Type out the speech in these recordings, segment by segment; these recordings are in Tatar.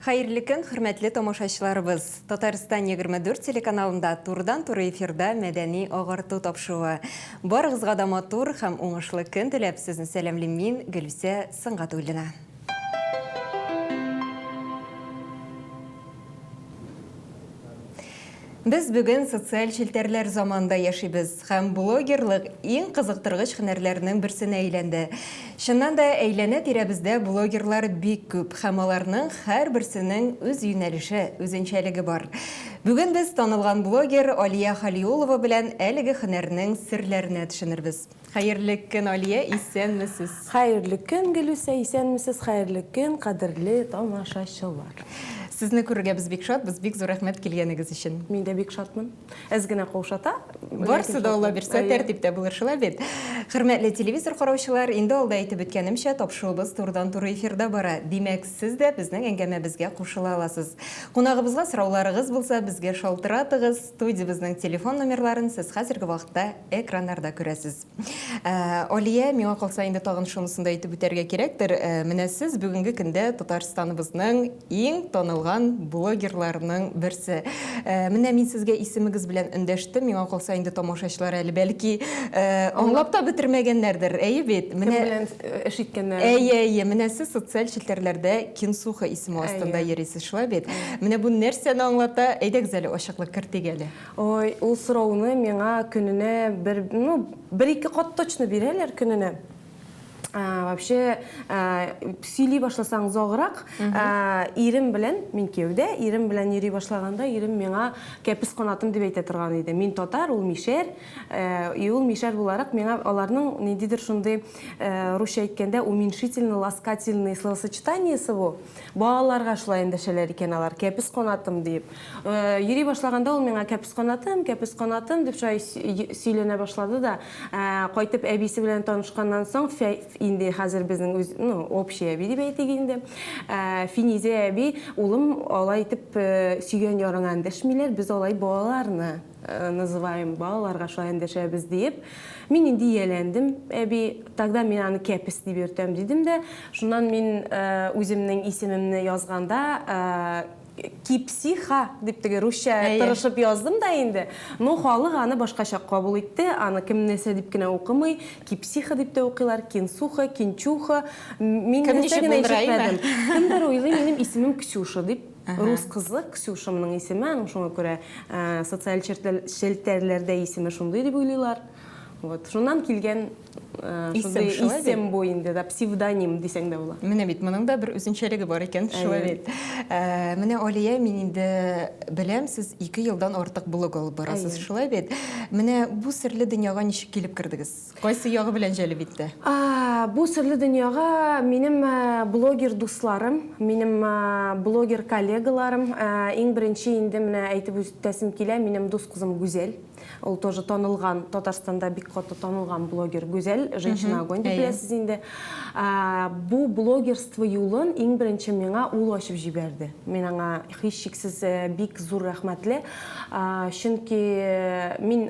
Хәерле көн, хөрмәтле тамашачыларыбыз. Татарстан 24 телеканалында турыдан туры эфирда мәдәни агарту тапшыруы. Барыгызга да матур һәм уңышлы көн теләп сезне сәламлим мин, Гөлүсә Сыңгатуллина. Без бүген социаль челтәрләр заманында яшибез һәм блогерлык иң кызыктыргыч һөнәрләрнең берсенә әйләнде. Чыннан да әйләнә тирәбездә блогерлар бик күп һәм аларның һәрберсенең үз юнәлеше, үзенчәлеге бар. Бүген без танылган блогер Алия Халиулова белән әлеге һөнәрнең серләренә төшенербез. Хәерле көн Алия, исәнмесез. Хәерле көн Гөлүсә, исәнмесез, хәерле көн кадерле тамашачылар. Сезне күрергә без бик шатбыз, бик зур рәхмәт килгәнегез өчен. Мин дә бик шатмын. Әз генә каушата. Барсы да Алла бирсә тәртиптә булыр, шулай бит? Хөрмәтле телевизор караучылар, инде алда әйтеп үткәнемчә, тапшыуыбыз турыдан туры эфирда бара. Димәк, сез дә безнең әңгәмәбезгә кушыла аласыз. Кунагыбызга сорауларыгыз булса, безгә шалтыратыгыз. Студиябезнең телефон номерларын сез хәзерге вакытта экраннарда күрәсез. Ә, Алия, миңа калса инде тагын шунысын да әйтеп үтәргә кирәктер. Ә, менә сез бүгенге көндә Татарстаныбызның иң танылган блогерларының берсе. Ә, менә мин сезгә исемегез белән өндәштем. Миңа калса инде тамашачылар әле бәлки, ә, аңлап та бетермәгәннәрдер. Әйе бит? Менә Кем белән эш иткәннәрен. Әйе, әйе. Менә сез социаль челтәрләрдә Кинсуха исеме астында йөрисез. Шулай бит. Менә бу нәрсәне аңлата? Әйдәгез әле ачыклык кертик әле. Ой, ул сорауны миңа көненә бер, ну, бер-ике кат точно бирәләр көненә. Вообще, сөйли башласаң заграк, ирем белән, мин кияүдә, ирем белән йөри башлаганда, ирем миңа кәпес канатым дип әйтә торган иде. Мин татар, ул мишәр, и ул мишәр буларак миңа аларның ниндидер шундый Э, русча әйткәндә уменьшительно ласкательный словосочетаниесе бу балаларга шулай эндәшәләр икән алар кәпес канатым диеп э, йөри башлаганда ул миңа кәпес канатым кәпес канатым дип шулай сөйләнә башлады да э, кайтып әбисе белән танышканнан соң инде хәзер безнең үз ну общий әби дип әйтик инде финизә әби улым алай итеп сөйгән ярыңа эндәшмиләр без алай балаларны называем балаларга шулай эндәшәбез диеп. Мин инде ияләндем, әби, тогда мин аны кәпес дип йөртәм, дидем дә, шуннан мин үземнең исемемне язганда кипсиха дип теге русча тырышып яздым да инде. Но халык аны башкача кабул итте, аны кем нәрсә дип кенә укымый, кипсиха дип тә укыйлар, кинсуха, кинчуха. Мин нәрсә генә ишетмәдем. Кемдер уйлый, минем исемем Ксюша дип. Рус кызы, Ксюша моның исеме, аның шуңа күрә социаль челтәрләрдә исеме шундый дип уйлыйлар. Вот, шуннан килгән шундый исем бу инде, да, псевдоним дисәң дә була. Менә бит, моның да бер үзенчәлеге бар икән, шулай бит. Менә Алия, мин инде беләм, сез ике елдан артык блог алып барасыз, шулай бит? Менә бу серле дөньяга ничек килеп кердегез? Кайсы ягы белән җәлеп итте? Бу серле дөньяга минем блогер дусларым, минем блогер коллегаларым, иң беренче инде менә әйтеп үтәсем килә, минем дус кызым Гүзәл. Ул тоже танылган, Татарстанда бик каты танылган блогер Гүзәл, Женщина огонь дип беләсез инде. Бу блогерство юлын иң беренче миңа ул ачып җибәрде. Мин аңа Һичшиксез бик зур рәхмәтле, чөнки мин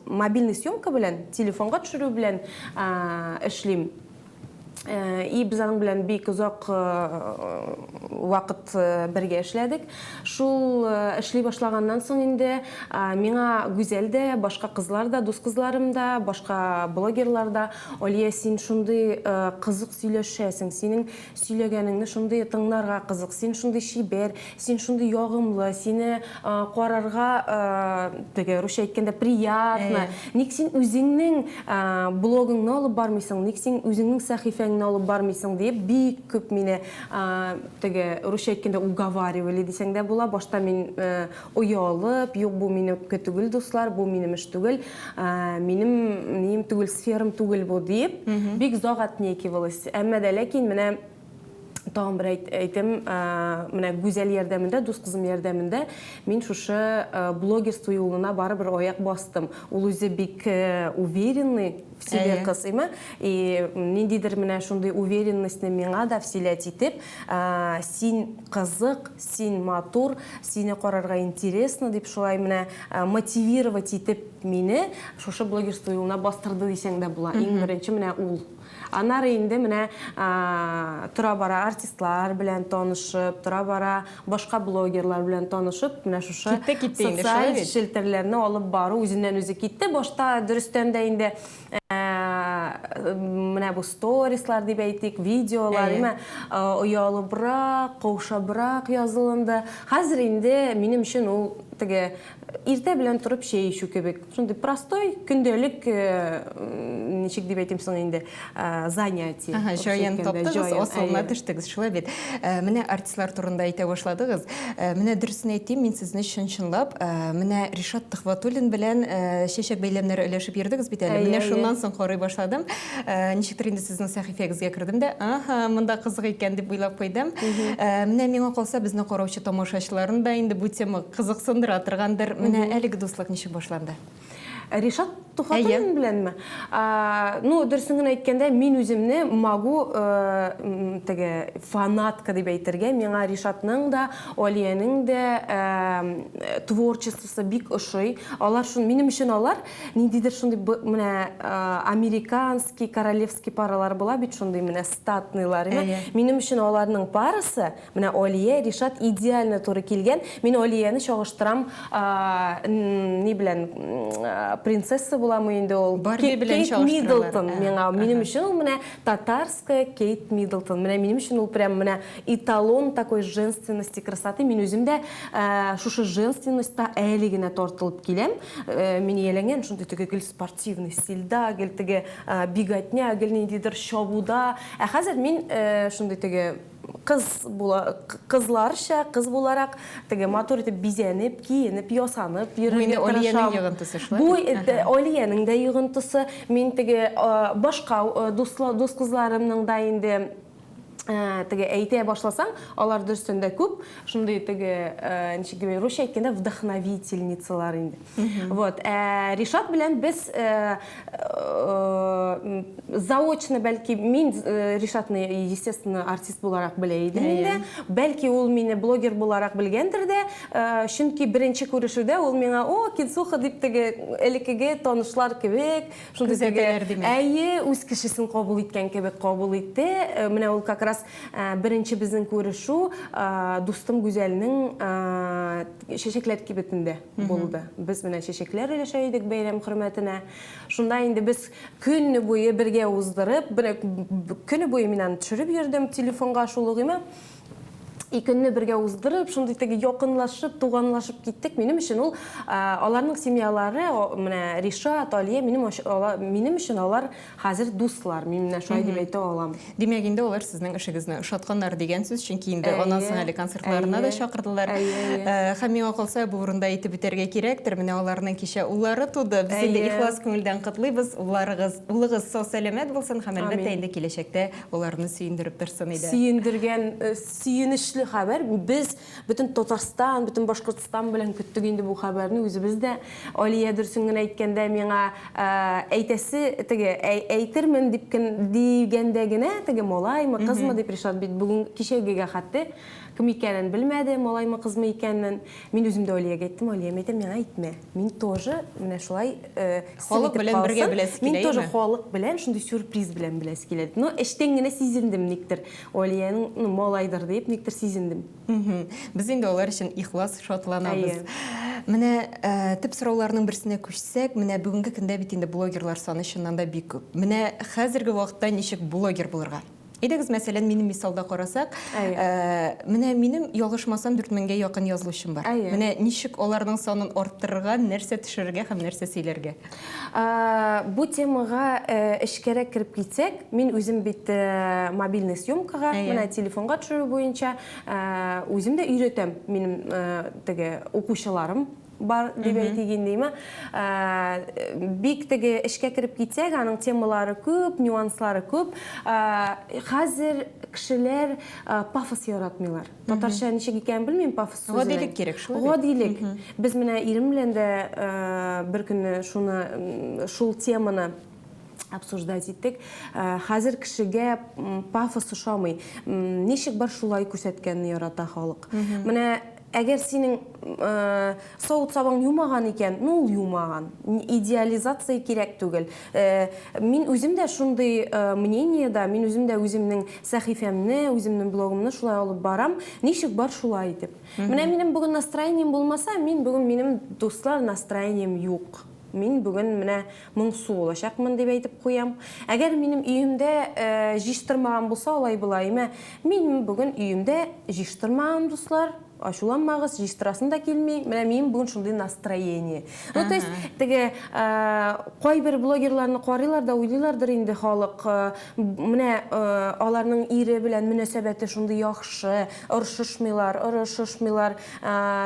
мобильный съемка белән, телефонга төшерү белән эшлим. И без аның белән бик озак вакыт бергә эшләдек. Шул эшли башлаганнан соң инде миңа Гүзәл дә, башка кызлар да, дус кызларым да, башка блогерлар да, Алия, син шундый кызык сөйләшәсең, синең Сөйләгәнеңне шундый тыңнарга кызык, син шундый чибәр, син шундый ягымлы, сине карарга теге русча әйткәндә приятно. Ник син үзеңнең блогыңны алып бармыйсың, ник син үзеңнең сәхифәңне алып бармыйсың диеп бик күп мине теге русча әйткәндә уговаривали дисәң дә була. Башта мин Оялып, юк бу минемке түгел, дуслар, бу минем эш түгел, минем нием түгел, сферам түгел бу, диеп, бик озак отнекивалась. Әмма дә ләкин менә тагын бер әйтем, менә Гүзәл ярдәмендә, дус кызым ярдәмендә мин шушы блогерство юлына барыбер аяк бастым. Ул үзе бик уверенный в себе кыз, әйме? И ниндидер менә шундый уверенностьны миңа да вселять итеп, Син кызык, син матур, сине карарга интересно, дип шулай менә мотивировать итеп мине шушы блогерство юлына бастырды дисәң дә була. Иң беренче менә ул. Аннары инде менә тора-бара артистлар белән танышып, тора-бара башка блогерлар белән танышып, менә шушы социаль челтәрләрне алып бару үзеннән-үзе китте. Башта дөрестән дә инде менә бу сторислар дип әйтик, видеолар, әйме, оялыбрак, каушабрак язылынды. Хәзер инде минем өчен ул теге иртә белән торып чәй эчү кебек. Шундый простой, көндәлек ничек дип әйтим соң инде, занятие. Җаен таптыгыз, асылына төштегез, шулай бит. Менә артистлар турында әйтә башладыгыз. Э, менә дөресен әйтим, мин сезне чын-чынлап, э, менә Ришат Төхватуллин белән э, чәчәк бәйләмнәре өләшеп йөрдегез бит әле. Менә шуннан соң карый башладым. Ничектер инде сезнең сәхифәгезгә кердем дә, аха, монда кызык икән дип уйлап куйдым. Менә миңа калса, безне караучы тамашачыларын да инде бу тема кызыксындыра торгандыр. Менә әлеге дуслык ничек башланды? Ришат Тухатуллин Әйе. беләнме? А, ну, дөресен генә әйткәндә, мин үземне Магу э, м, теге фанатка дип әйтергә, миңа Ришатның да, Алиянең дә э, творчествосы бик ошый. Алар шун, минем өчен алар ниндидер шундый б- менә э, американский, королевский паралар була бит шундый менә статныйлар. Әйе. Минем өчен аларның парасы Менә Алия, Ришат идеально туры килгән. Мин Алияне чагыштырам, ни белән, принцесса буламы инде ул? Барби белән чагыштыралар. Кейт Миддлтон миңа. Минем өчен ул менә татарская Кейт Миддлтон. Менә минем өчен ул прям менә эталон такой женственности, красоты. Мин үзем дә шушы женственностьта әле генә тартылып киләм. Мин ияләнгән шундый теге гел спортивный стильдә, гел теге биготня, гел ниндидер чабуда. Ә хәзер мин шундый теге Кыз була, кызларча, кыз буларак теге матур итеп бизәнеп, киенеп, ясанып йөрергә тырышам. Бу инде Алиянең йогынтысы шулай? Бу Алиянең дә йогынтысы. Мин теге башка дус кызларымның да инде теге әйтә башласаң, алар дөрестән дә күп шундый теге, ничек дип, русча әйткәндә, вдохновительницалар инде. Вот. Ә, Ришат белән без ә, ә, заочно, бәлки, мин ә, Ришатны, естественно, артист буларак белә идем инде. Бәлки ул мине блогер буларак белгәндер дә, ә, чөнки беренче күрешүдә ул миңа, о, Кинсуха дип теге элеккеге танышлар кебек, шундый теге, әйе, үз кешесен кабул иткән кебек кабул итте. Ә, Менә ул как раз ә, беренче безнең күрешү, ә, дустым Гүзәлнең ә, чәчәкләр кибетендә. булды. Без менә чәчәкләр өләшә идек бәйрәм хөрмәтенә. Шунда инде без көнне буе бергә уздырып, бер көне буе мин аны төшереп йөрдем телефонга шул угыйма. И көнне бергә уздырып, шундый теге якынлашып, туганлашып киттек. Минем өчен ул аларның семьялары, менә Ришат, Алия, минем минем өчен алар Хәзер дуслар, мин менә шулай дип әйтә алам. Димәк, инде алар сезнең эшегезне ошатканнар дигән сүз, чөнки инде аннан соң әле концертларына да чакырдылар. Һәм миңа калса, бу урында әйтеп үтәргә кирәктер, менә аларның кичә уллары туды. Без инде ихлас күңелдән котлыйбыз, улларыгыз, улыгыз сау-сәламәт булсын һәм, әлбәттә, инде киләчәктә аларны сөендереп торсын иде. Сөендергән, сөенечле хәбәр, без. Бөтен Татарстан, бөтен Башкортстан белән көттек инде бу хәбәрне үзебез дә. Алия дөрсен генә әйткәндә миңа ә, әйтәсе теге әй, әйтермен дип кем дигәндә генә теге малаймы, кызмы дип Ришат бит бүген кичәгегә хәтте кем икәнен белмәде, малаймы, кызмы икәнен. Мин үзем дә Алиягә әйттем, Алия, мин әйтәм, миңа әйтмә. Мин тоже менә шулай э, халык белән бергә беләсе килә. Мин тоже халык белән шундый сюрприз белән беләсе килә. Но эчтән генә сизендем никтер. Олиянең, ну, малайдыр дип, никтер сизендем. Без инде алар өчен ихлас шатланабыз. Менә э, төп сорауларның берсенә күчсәк, менә бүгенге көндә бит инде блогерлар саны чыннан да бик күп. Менә хәзерге вакытта ничек блогер булырга? Әйдәгез, мәсәлән, минем мисалда карасак, э, менә минем ялгышмасам 4000гә якын язылучым бар. Менә ничек аларның санын арттырырга, нәрсә төшерергә һәм нәрсә сөйләргә? Бу темага эчкәрәк кереп китсәк, мин үзем бит мобильный съемкага, менә телефонга төшерү буенча үзем дә өйрәтәм. Минем теге укучыларым бар дип әйтик инде. Бик теге эчкә кереп китсәк, аның темалары күп, нюанслары күп. Хәзер кешеләр пафос яратмыйлар. Татарча ничек икәнен белмим, пафос сүзенең. Гадилек кирәк шул. Гадилек. Без менә ирем белән дә бер көнне шуны шул теманы обсуждать иттек. Хәзер кешегә пафос ошамый. Ничек бар шулай күрсәткәнне ярата халык. Менә әгәр синең савыт сабаң юмаган икән, ну ул юмаган. Идеализация кирәк түгел. Мин үзем дә шундый мнениедә, мин үзем дә үземнең сәхифәмне, үземнең блогымны шулай алып барам. Ничек бар, шулай итеп. Менә минем бүген настроением булмаса, мин бүген минем дуслар настроением юк. Мин бүген менә моңсу булачакмын дип әйтеп куям. Әгәр минем өемдә җыштырмаган булса, алай-болай, мә, мин бүген өемдә җыштырмаган, дуслар. Ачуланмагыз, җыйстырасым да килми, менә минем бүген шундый настроение. Ну, то есть, теге кайбер блогерларны карыйлар да уйлыйлардыр инде халык, менә аларның ире белән мөнәсәбәте шундый яхшы, орышышмыйлар, орышышмыйлар,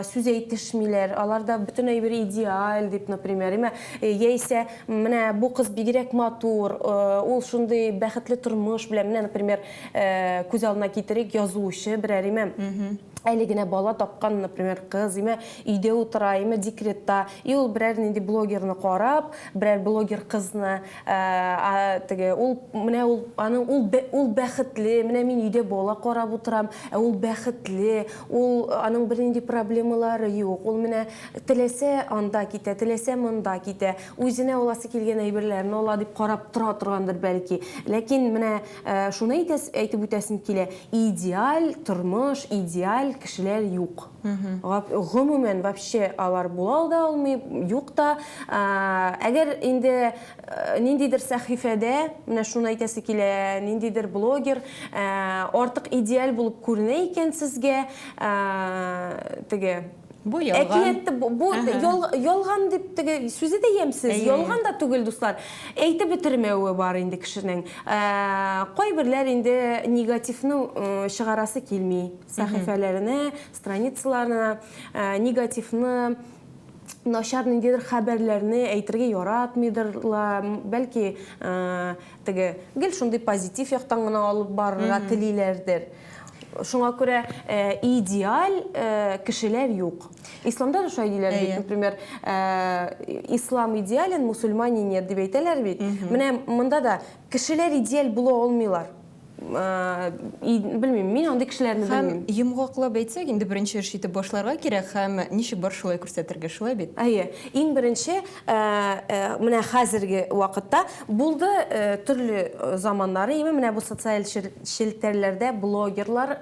сүз әйтешмиләр, аларда бөтенләй бер идеаль дип, например, яисә менә бу кыз бигрәк матур, ул шундый бәхетле тормыш белән, менә, например, Күз алдына китерик, язучы берәр име, әле генә бала тапкан, например, кыз име, өйдә утыра име, декретта, и ул берәр нинди блогерны карап, берәр блогер кызны, теге, ул, менә ул, аның, ул, ул бәхетле, менә мин өйдә бала карап утырам, ә ул бәхетле, ул, аның бернинди проблемалары юк, ул менә теләсә анда китә, теләсә монда китә, үзенә аласы килгән әйберләрен ала, дип карап тора торгандыр бәлки. Ләкин менә Ә, шуны әйтәс, әйтеп үтәсем килә, идеаль тормыш, идеаль кешеләр юк. Гап, гомумән, вообще алар була да алмый, юк та. Ә, әгәр инде э, ниндидер сәхифәдә, менә шуны әйтәсе килә, ниндидер блогер ә, артык идеаль булып күренә икән сезгә, ә, теге, Бу ялган. Әкиятте бу, бу ял, ялган дип теге сүзе дә ямьсез, ялган да түгел, дуслар. Әйтеп бетермәве бар инде кешенең. Ә, кайберләр инде негативны чыгарасы килми. Сәхифәләренә, страницаларына ә, негативны начар ниндидер хәбәрләрне әйтергә яратмыйдырлар, бәлки ә, Теге, гел шундый позитив яктан гына алып барырга телиләрдер. Шуңа күрә э, идеаль э, кешеләр юк. Исламда да шулай диләр бит, например, э, ислам идеален, мусульмане нет дип әйтәләр бит. Менә монда да кешеләр идеаль була алмыйлар. Белмим, мин андый кешеләрне белмим. Һәм йомгаклап әйтсәк, инде беренче эш итеп башларга кирәк һәм ничек бар шулай күрсәтергә, шулай бит? Әйе, иң беренче, менә хәзерге вакытта булды, төрле заманнары име, менә бу социаль челтәрләрдә блогерлар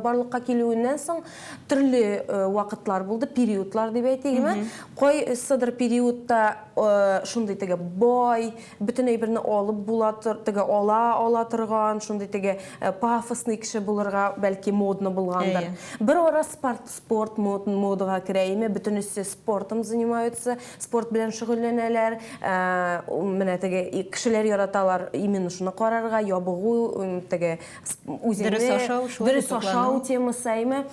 барлыкка килүеннән соң төрле вакытлар булды, периодлар дип әйтик име. Кайсыдыр периодта шундый теге бай, Бөтен әйберне алып була тор, теге ала ала торган, шундый теге э, пафосный кеше булырга бәлки модно булгандыр. Әйе. Бер ара спорт, спорт мод- модага керә име, бөтенесе спортом занимаются, спорт белән шөгыльләнәләр. Ә, у- менә теге и- кешеләр яраталар именно шуны карарга, ябыгу, м, теге с- үзеңне Дөрес ашау, шулай дөрес итеп ашау темасы, әйме.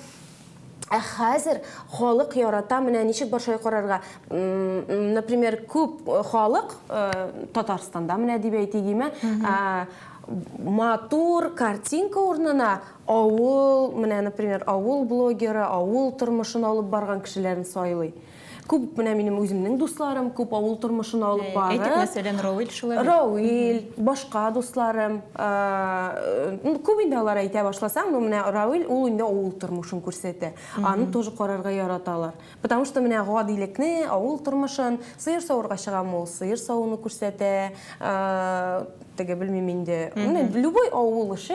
Ә хәзер халык ярата, менә ничек бар шулай карарга. Например, күп э, халык э, Татарстанда менә дип әйтегеме, матур картинка урнына авыл, менә, например, авыл блогеры, авыл тормышын алып барган кешеләрен сайлый. Күп менә минем үземнең дусларым, күп авыл тормышына алып барып. Әйтик, мәсәлән, Равил шулай. Равил, башка дусларым. Ну, күп инде алар әйтә башласаң, ну менә Равил ул инде авыл тормышын күрсәтә. Аны тоже карарга яраталар. Потому что менә гадилекне, авыл тормышын, сыер савырга чыгам ул, сыер савуны күрсәтә. Теге белмим инде. Менә любой авыл эше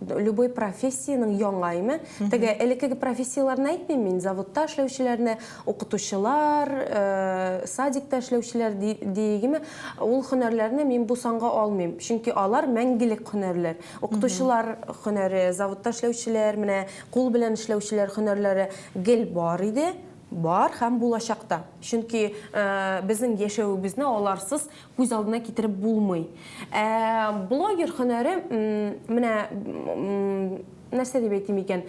любой профессиянең яңа име теге элеккеге профессияләрне әйтмим мин заводта эшләүчеләрне укытучылар э, садикта эшләүчеләр диегеме ул һөнәрләрне мин бу санга алмыйм чөнки алар мәңгелек һөнәрләр укытучылар һөнәре заводта эшләүчеләр менә кул белән эшләүчеләр һөнәрләре гел бар иде бар һәм булачакта чөнки э, безнең яшәвебезне аларсыз күз алдына китереп булмый. Ә блогер һөнәре менә нәрсә дип әйтим икән?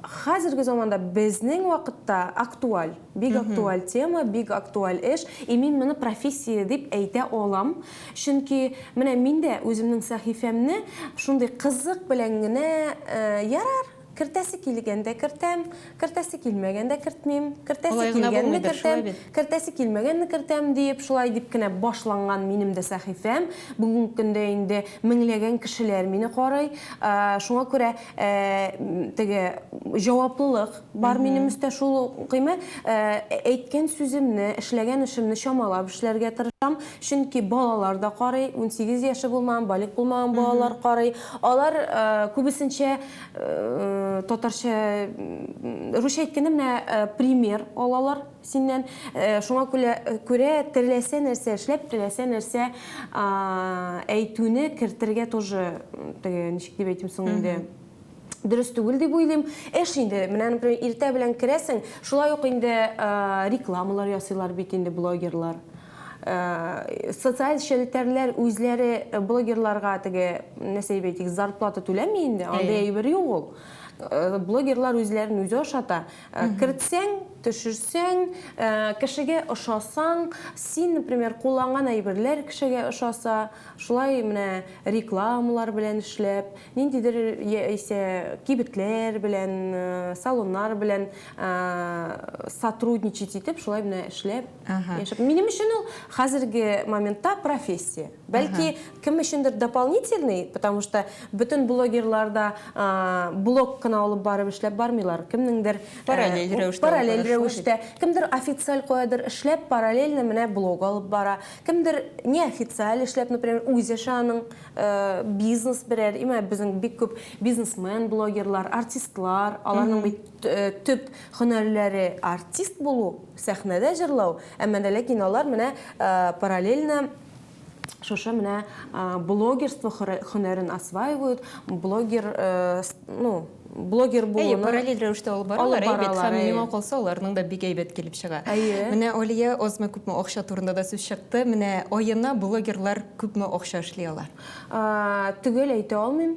Хәзерге заманда безнең вакытта актуаль, бик актуаль тема, бик актуаль эш, и мин моны профессия дип әйтә алам. Чөнки менә мин дә үземнең сәхифәмне шундый кызык белән генә ярар, Кертәсе килгәндә кертәм, кертәсе килмәгәндә кертмим, кертәсе килгәнне кертәм, кертәсе килмәгәнне кертәм диеп, шулай дип кенә башланган минем дә сәхифәм. Бүгенге көндә инде меңләгән кешеләр мине карый. Шуңа күрә теге җаваплылык бар минем өстә шул ук-ме. Әйткән сүземне, эшләгән эшемне чамалап эшләргә тырышам, чөнки балалар да карый, унсигез яше булмаган, балигъ булмаган балалар карый. Алар күбесенчә татарча, русча әйткәндә менә пример алалар синнән. Шуңа күрә теләсә нәрсә эшләп, теләсә нәрсә әйтүне кертергә тоже теге ничек дип әйтим соң инде, дөрес түгел дип уйлыйм. Эш инде, менә например, иртә белән керәсең, шулай ук инде рекламалар ясыйлар бит инде блогерлар. Э, социаль челтәрләр үзләре э, блогерларга теге нәрсә дип әйтик зарплата түләми инде андай әйбер юк ул э, блогерлар үзләрен үзе ашата кертсәң төшерсәң кешегә ошасаң син например кулланган әйберләр кешегә ошаса шулай менә рекламалар белән эшләп ниндидер яисә кибетләр белән салоннар белән сотрудничать итеп шулай менә эшләп Яшәп. Минем өчен ул хәзерге моментта профессия. Бәлки кем өчендер дополнительный, потому что бөтен блогерлар да блог кына алып барып эшләп бармыйлар. Кемнеңдер параллель рәвештә. Параллель рәвештә. Кемдер официаль каядыр эшләп, параллельно менә блог алып бара. Кемдер неофициаль эшләп, например, үз эше аның бизнес берәр, имә безнең бик күп бизнесмен, блогерлар, артистлар, аларның бит төп һөнәрләре артист булу. Сәхнәдә җырлау, әмма дә ләкин алар менә параллельно шушы менә блогерство хөнәрен осваивают, блогер, ну, блогер булуны... Әйе, параллель рәвештә алып баралар, әйе, бит, һәм миңа калса, аларның да бик әйбәт килеп чыга. Әйе. Менә Алия азмы-күпме акча турында да сүз чыкты, менә аена блогерлар күпме акча эшли ала? Төгәл әйтә алмыйм.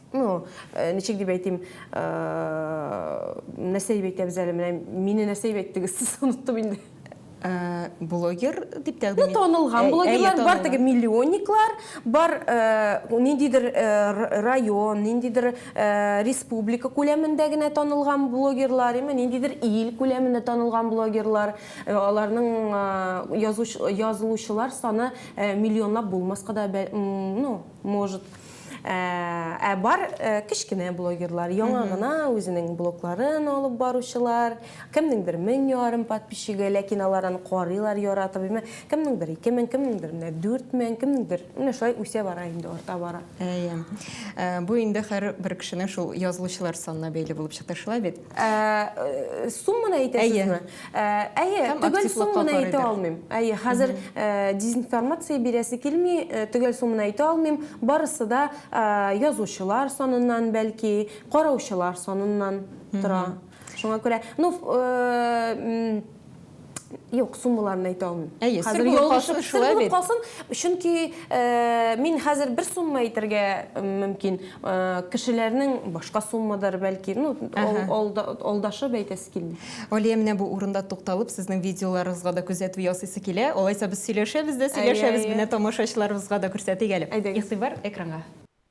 Ну, э, ничек дип әйтим, э, нәрсә дип әйтәбез әле, менә мине нәрсә дип әйттегез, сез оныттым инде. Э, блогер дип тәкъдим ит. Танылган блогерлар бар теге миллионниклар, бар э, ниндидер э, район, ниндидер республика күләмендә генә танылган блогерлар, яме ниндидер ил күләмендә танылган блогерлар, аларның язылучылар саны миллионлап булмаска да, ну, может Ә, ә бар ә, кечкенә блогерлар, яңа гына үзенең блогларын алып баручылар, кемнеңдер мең ярым подписчигы, ләкин алар аны карыйлар, яратып, имә, кемнеңдер ике мең, кемнеңдер менә дүрт мең, кемнеңдер менә шулай үсә бара инде, арта бара. Әйе. Ә, бу инде һәр бер кешенең шул язылучылар санына бәйле булып чыкты, шулай бит? Ә, э, сумманы әйтәсезме? Әйе, э, төгәл сумманы әйтә алмыйм. Әйе, хәзер э, дезинформация бирәсе килми, төгәл сумманы әйтә алмыйм. Барысы да язучылар саныннан бәлки, караучылар саныннан тора. Шуңа күрә, ну, Юк, суммаларны әйтә алмыйм. Әйе, сер булып калсын, сер булып калсын. Чөнки мин хәзер бер сумма әйтергә мөмкин. Кешеләрнең башка суммадыр, бәлки, ну, алдашып әйтәсе килми. Алия, менә бу урында тукталып, сезнең видеоларыгызга да күзәтү ясыйсы килә. Алайса без сөйләшәбез дә сөйләшәбез, менә тамашачыларыбызга да күрсәтик әле. Игътибар экранга.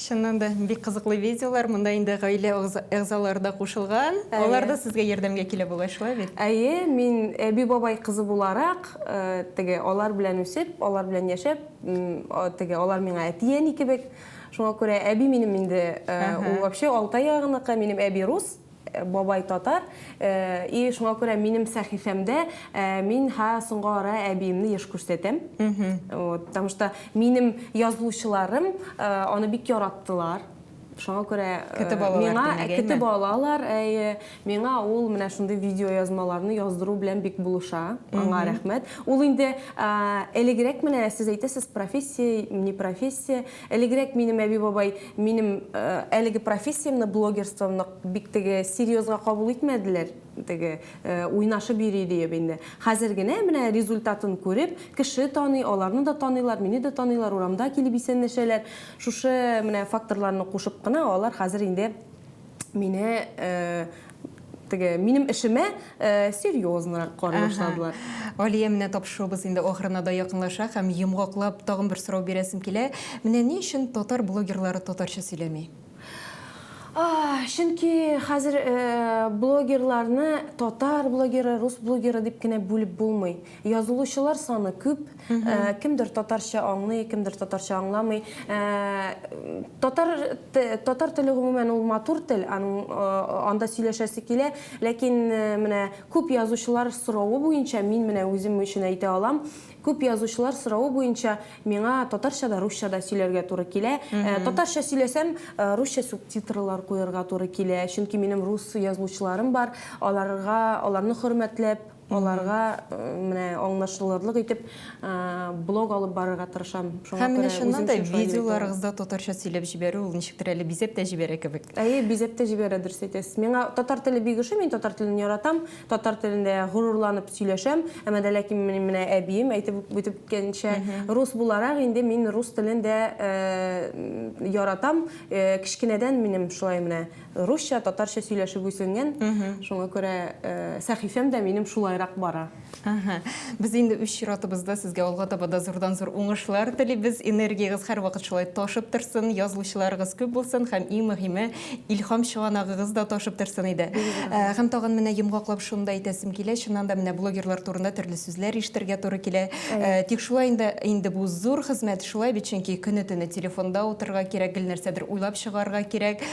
Чыннан да бик кызыклы видеолар, монда инде гаилә әгъзалары да кушылган. Алар да сезгә ярдәмгә килә бугай, шулай бит? Әйе, мин әби-бабай кызы буларак, теге, алар белән үсеп, алар белән яшәп, теге, алар миңа әти-әни кебек. Шуңа күрә әби минем инде, ул вообще Алтай ягыныкы, минем әби рус. Бабай татар, и шуңа күрә минем сәхифәмдә мин һа соңга ара әбиемне еш күрсәтәм. Вот, потому что минем язучыларым аны бик яраттылар. Шуңа күрә миңа китеп алалар, әйе, миңа ул менә шундый видеоязмаларны яздыру белән бик булыша, аңа рәхмәт. Ул инде элегрәк менә сез әйтәсез, профессия, не профессия. Элегрәк минем әби-бабай минем әлеге профессиямне, блогерствомны бик теге серьезга кабул итмәделәр, теге уйнашып йөри диеп инде. Хәзер генә менә результатын күреп, кеше таный, аларны да таныйлар, мине дә таныйлар, урамда килеп исәнләшәләр. Шушы менә факторларны кушып кына алар хәзер инде Мине теге минем эшемә э, серьезныйрак карый башладылар. Алия, менә тапшыруыбыз инде ахырына да якынлаша һәм йомгаклап тагын бер сорау бирәсем килә. Менә ни өчен татар блогерлары татарча сөйләми? Чөнки хәзер э, блогерларны татар блогеры, рус блогеры дип кенә бүлеп булмый. Язылучылар саны күп, Э, кемдер татарча аңлый, кемдер татарча аңламый. Э, татар татар теле гомумән ул матур тел, аның э, анда сөйләшәсе килә, ләкин менә күп язучылар соравы буенча мин менә үзем өчен әйтә алам, күп язучылар соравы буенча миңа татарча да, русча да сөйләргә туры килә. Татарча сөйләсәм, русча субтитрлар куярга туры килә, чөнки минем рус язучыларым бар, аларга, аларны хөрмәтләп, Аларга менә аңлашылырлык итеп блог алып барырга тырышам. Шуңа Һәм менә чыннан да видеоларыгызда татарча сөйләп җибәрү ул ничектер әле бизәп тә җибәрә кебек. Әйе, бизәп тә җибәрә, дөрес әйтәсез. Миңа татар теле бик ошый, мин татар телен яратам, татар телендә горурланып сөйләшәм. Әмма дә ләкин минем менә әбием әйтеп үтеп үткәнчә, рус буларак инде мин рус телен дә яратам. Кечкенәдән минем шулай менә Русча, татарча сөйләшеп үсенгән, шуңа күрә сәхифәм дә минем шулайрак бара. Әһә. Без инде үз чиратыбызда сезгә алга таба да зурдан-зур уңышлар телибез. Энергиягез һәрвакыт шулай ташып торсын, язылучыларыгыз күп булсын һәм, иң мөһиме, илһам чыганагыгыз да ташып торсын иде. Һәм тагын менә йомгаклап шуны да әйтәсем килә, чыннан да, менә блогерлар турында төрле сүзләр ишетергә туры килә. Тик шулай инде, инде бу зур хезмәт, шулай бит, чөнки көне-төне телефонда утырырга кирәк, гел нәрсәдер уйлап чыгарга кирәк.